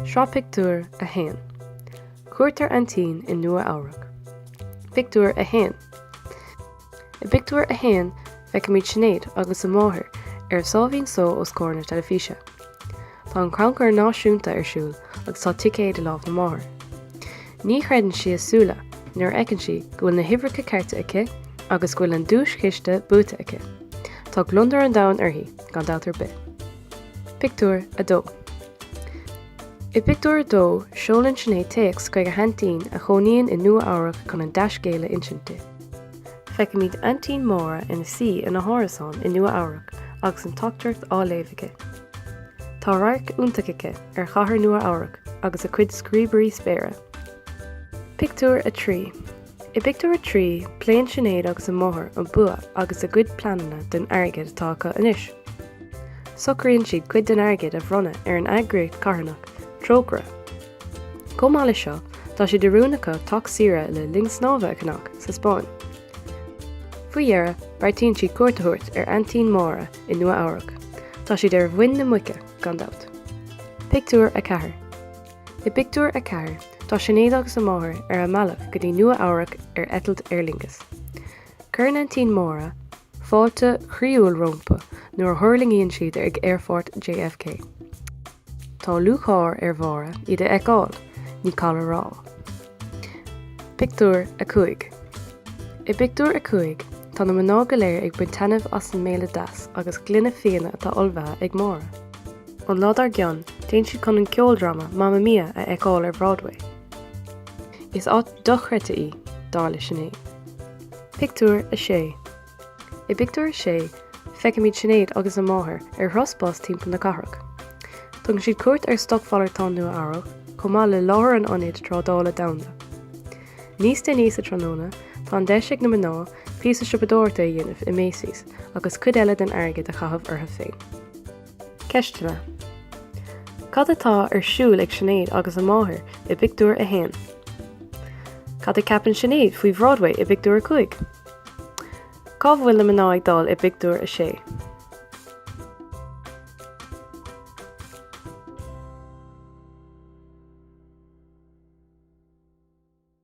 Sraith pictiúr 1. Cuairt ar aintín i Nua-Eabhrac. Pictiúr 1. I bpictiúr 1, feicimid Sinéad agus a máthair ar sháimhín só os comhair na teilifíse. Tá an Crannchur Náisiúnta ar siúl agus tá ticéad i lámh na máthar. Ní chreideann sí a súile nuair a fheiceann sí go bhfuil na huimhreacha cearta aici agus go bhfuil an duaischiste buaite aici. Tá gliondar an domhain uirthi, gan dabht ar bith. Pictiúr 2 I bpictiúr a dó, seolann Sinéad téacs chuig a haintín a chónaíonn i Nua-Eabhrac chun an dea-scéal a insint di. Feicimid Aintín Máire ina suí ina hárasán i Nua-Eabhrac agus an teachtaireacht á léamh aici. Tá radharc iontach aici ar Chathair Nua-Eabhrac agus a cuid scríobairí spéire. Pictiúr 3 I bpictiúr a trí, pléann Sinéad agus a máthair an bua agus a gcuid pleananna don airgead atá acu anois. Socraíonn siad cuid den airgead a bhronnadh ar an eagraíocht charthanach, Trócaire. Chomh maith leis seo, tá sé de rún acu teach saoire le linn snámha a cheannach sa Spáinn. Faoi dheireadh, beartaíonn siad cuairt a thabhairt ar aintín Máire. i Nua Eabhrac. Tá siad ar mhuin na muice, gan dabht. Pictiúr 4 I bpictiúr a ceathair, tá Sinéad agus a máthair ar a mbealach go dtí Nua Eabhrac ar eitilt Aer Lingus. Cuireann aintín Máire fáilte chroíúil rompu nuair a thuirlingíonn siad ag Aerfort JFK. Tá lúcháir ar Mháire iad a fheiceáil, ní call a rá. Pictiúr 5 I bpictiúr a cúig, tá na mná go léir ag baint taitnimh as an mbéile deas agus gloine fíona atá ullmhaithe ag Máire. An lá dár gcionn, téann siad chun an ceoldráma Mamma Mia a fheiceáil ar Broadway. Is áit dochreidte í, dar le Sinéad. Pictiúr 6 I bpictiúr a sé, feicimid Sinéad agus a máthair ar thuras bus timpeall na cathrach. Tugann siad cuairt ar Stocmhalartán Nua-Eabhrac, chomh maith le láthair an Ionaid Trádála Domhanda. Níos déanaí sa tráthnóna, tá an deis ag na mná píosa siopadóireachta a dhéanamh i Macy's agus cuid eile den airgead a chaitheamh orthu féin. Ceisteanna, Cad atá ar siúl ag Sinéad agus a máthair i bpictiúr a haon? Cad a ceapann Sinéad faoi Bhroadway i bpictiúr a cúig? Cá bhfuil na mná ag dul i bpictiúr a sé?